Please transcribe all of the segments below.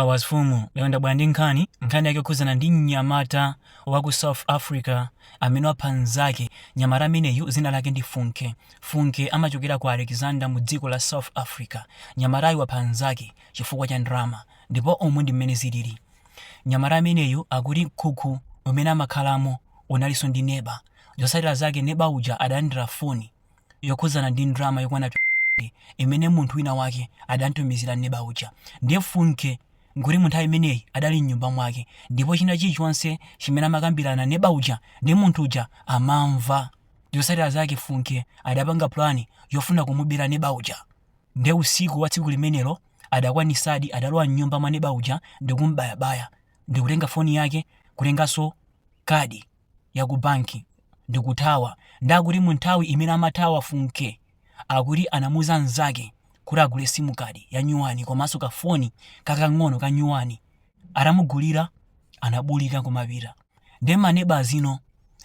Bawazifumu lero ndabwera ndi nkhani nkhani yake yokhudzana ndi mnyamata wa ku South Africa amene wapha mnzake. Mnyamata ameneyu dzina lake ndi Funke. Funke amachokera ku Alexander mu dziko la South Africa. Mnyamatayu wapha mnzake chifukwa cha ndalama ndipo umu ndi mmene zilili. Mnyamata ameneyu akuti mkhukhu umene amakhalamo unalinso ndi neba. Zotsatira zake neba uja adalandira foni. yokhudzana ndi ndalama yokwana 20 imene munthu wina wake adamtumizira neba uja. Ndiye Funke nkuti mu nthawi imeneyi adali m'nyumba mwake ndipo china chilichonse chimene amakambirana neba uja ndi munthu uja amamva. Zotsatira zake Funke adapanga plan yofuna kumubera neba uja. Ndiye usiku wa tsiku limenelo adakwanitsadi adalowa m'nyumba mwa neba uja ndikum'bayabaya ndikutenga foni yake kutenganso kadi. ya ku banki ndikuthawa ndi akuti mu nthawi imene amathawa funke akuti anamuuza mnzake kuti agule simu kadi ya nyuwani komanso kafoni kakang'ono ka nyuwani atamugulira anabulika kumapita ndi maneba ano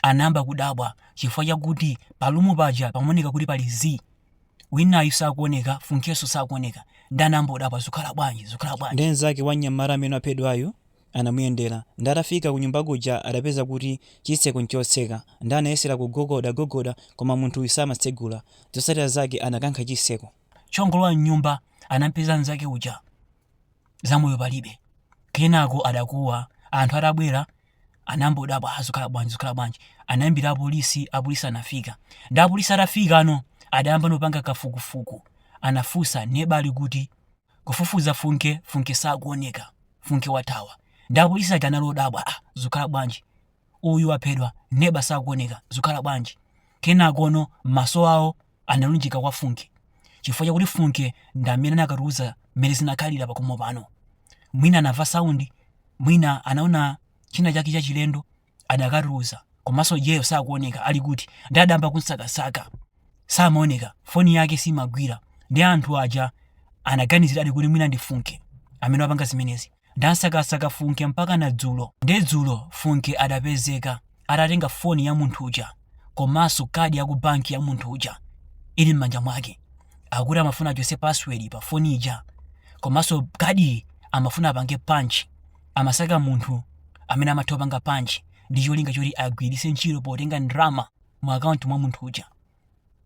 anayamba kudabwa chifukwa chakuti palumu paja pamaoneka kuti pali zii winayu sakuoneka funkenso sakuoneka ndi anayamba kudabwa zikhala bwanji zikhala bwanji ndi mnzake wa mnyamata amene waphedwayu anamuyendera ndi atafika kunyumba kuja adapeza kuti chitseko nchotseka ndi anayesera kugogoda gogoda koma munthuyu samatsegula zotsatira zake anakankha chitseko. chongolowa mnyumba anampeza mnzake uja zamoyo palibe kenako adakuwa anthu atabwera anambodabwa ah zikhala bwanji zikhala bwanji anayimbira apolisi apolisi anafika ndi apolisi atafika ano adayamba nopanga kafukufuku anafunsa neba ali kuti kufufuza funke funke sakuoneka funke wathawa ndi apolisi aja anali odabwa ah zukhala bwanji uyu waphedwa neba sakuoneka zukhala bwanji kenakono maso awo analunjika kwa funke chifukwa chakuti funke ndi amene akanatiuza mmene zinakhalira pakomo pano mwina anamva saundi mwina anaona china chake chachilendo adakatiuza komanso iyeyo sakuoneka ali kuti ndi adayamba kumsakasaka samaoneka foni yake simagwira ndi anthu aja anaganiziradi kuti mwina ndi funke amene wapanga zimenezi ndi ansakasaka funke mpaka na dzulo ndi dzulo funke adapezeka atatenga foni ya munthu uja komanso kadi ya ku banki ya munthu uja ili m'manja mwake akuti amafuna achotse password pa foni ija komanso kadi amafuna apange punch amasaka munthu amene amatha kupanga punch ndi cholinga choti agwiritse ntchito potenga ndalama mu akaunti mwa munthu uja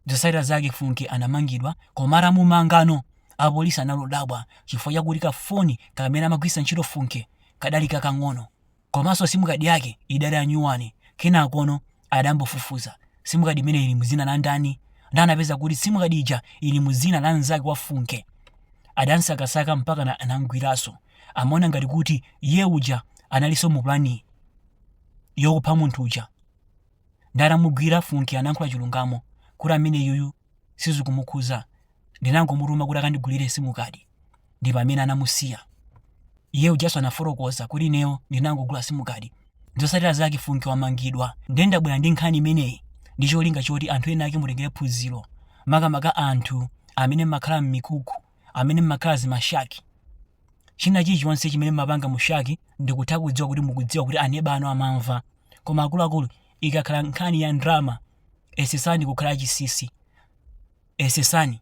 zotsatira zake funke anamangidwa koma atamumangano apolisi analodabwa chifukwa chakuti kafoni kamene amagwiritsa ntchito funke kadali kakang'ono komanso simukadi yake idali anyuwani kenakono adambofufuza sim card imene ili muzina la ndani ndiye anapeza kuti sim card ija ili muzina la mnzake wa funke adamsakasaka mpaka na- anamgwiraso amaona ngati kuti iye uja analiso mu plani yokupha munthu uja nde atamugwira funke anankhula chilungamo kuti amene yuyu sizikumukhuza ndinangomutuma kuti akandigulire simukadi ndi pamene anamusiya iye ujaso anafotokoza kuti ineyo ndinangogula simukadi ndiye zotsatira zake funke wamangidwa ndiye ndabwera ndi nkhani imeneyi ndi cholinga choti anthu ena ake mutengere phunziro makamaka anthu amene mmakhala m'mikuku amene mmakhala m'mashaki china chilichonse chimene mmapanga mushaki ndikutha kudziwa kuti mukudziwa kuti aneba anu amamva koma akuluakulu ikakhala nkhani ya ndalama Yesetsani kukhala achinsinsi. Yesetsani.